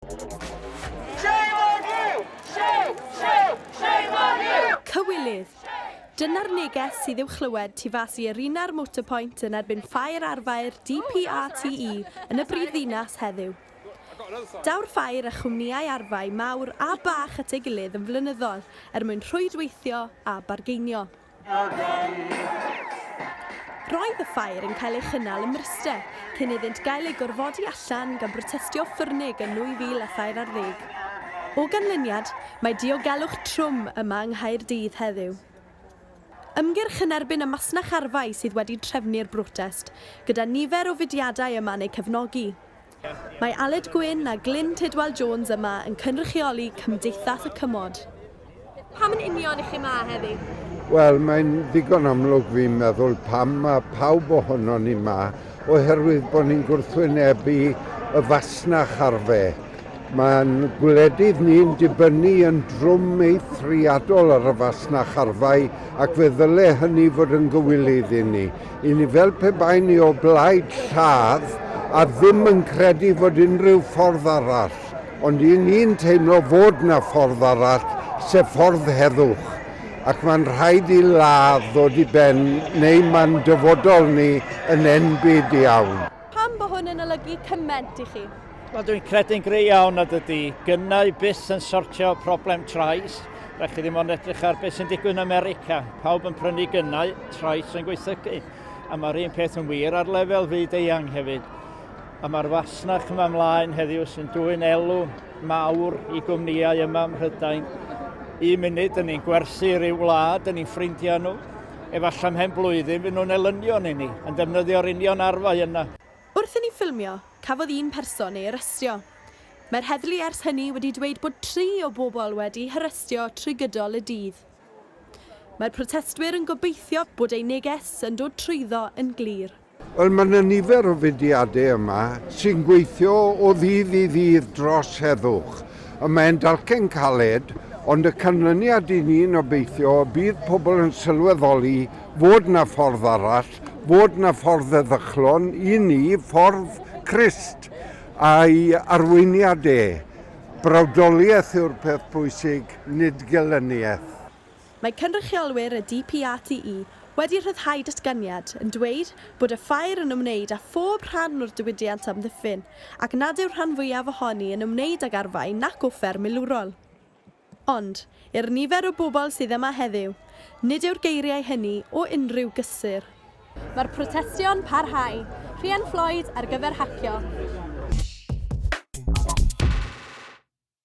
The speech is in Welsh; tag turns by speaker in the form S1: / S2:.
S1: Shame on you! Shame, shame, shame on you! Cywilydd! Dyna'r neges sydd i'w chlywed tu fas i Arena'r Motorpoint yn erbyn ffair arfaer DPRTE yn y brif ddinas heddiw. Daw'r ffair a chwmnïau arfau mawr a bach at ei gilydd yn flynyddol er mwyn rhwydweithio a bargeinio. Roedd y ffair yn cael ei chynnal ym Mryste, cyn iddynt gael eu gorfodi allan gan brotestio ffyrnig yn 2003 ar ddeg. O ganlyniad, mae diogelwch trwm yma yng Nghaerdydd heddiw. Ymgyrch yn erbyn y masnach arfau sydd wedi trefnu'r brotest, gyda nifer o fudiadau yma'n eu cefnogi. Mae Aled Gwynn a Glyn Tidwal Jones yma yn cynrychioli Cymdeithas y Cymod. Pam yn union i chi yma heddi? Wel, mae'n
S2: ddigon amlwg fi'n meddwl pam mae pawb ohonon ni yma, oherwydd bod ni'n gwrthwynebu y fasnach ar fe. Mae'n gwledydd ni'n dibynnu yn drwm eithriadol ar y fasnach arfau ac fe ddyle hynny fod yn gywilydd i ni. I ni fel pe bai ni o blaid lladd a ddim yn credu fod unrhyw ffordd arall, ond i ni'n teimlo fod 'na ffordd arall, sef ffordd heddwch, ac mae'n rhaid i ladd ddod i ben neu mae'n dyfodol ni yn enbyd iawn. Pam bo hwn yn
S1: olygu cyment i chi? Wel, dwi'n credu'n
S3: gry iawn nad ydy gynnau byth yn sortio problem trais. Rhaid chi ddim ond edrych ar beth sy'n digwydd yn America. Pawb yn prynu gynnau, trais yn gweithygu. A mae'r un peth yn wir ar lefel fyd eang hefyd. A mae'r fasnach yma ymlaen heddiw sy'n dwy'n elw mawr i gwmnïau yma ym Mhrydain. Un munud, dyn ni'n gwerthu rhyw wlad, dyn ni'n ffrindiau nhw. Efallai ymhen blwyddyn fy nhw'n elynion i ni, yn defnyddio'r union arfau yna. Wrth i ni ffilmio,
S1: cafodd un person ei arestio. Mae'r heddlu ers hynny wedi dweud bod tri o bobl wedi'u harestio trwy gydol y dydd. Mae'r protestwyr yn gobeithio bod eu neges yn dod trwyddo yn glir. Wel, mae yna
S2: nifer o fudiadau yma sy'n gweithio o ddydd i ddydd dros heddwch. Y mae'n dalcen caled, ond y canlyniad i ni'n obeithio y bydd pobl yn sylweddoli fod yna ffordd arall, fod yna ffordd eddychlon i ni, ffordd Crist a'i arweiniad e. Brawdoliaeth yw'r peth pwysig, nid gelyniaeth. Mae
S1: cynrychiolwyr y DPRTE wedi rhyddhau datganiad yn dweud bod y ffair yn ymwneud â phob rhan o'r diwydiant amddiffyn ac nad yw'r rhan fwyaf ohoni yn ymwneud ag arfau nac offer milwrol. Ond, i'r nifer o bobl sydd yma heddiw, nid yw'r geiriau hynny o unrhyw gysur. Mae'r protestio'n parhau. Rhian Floyd ar gyfer hacio.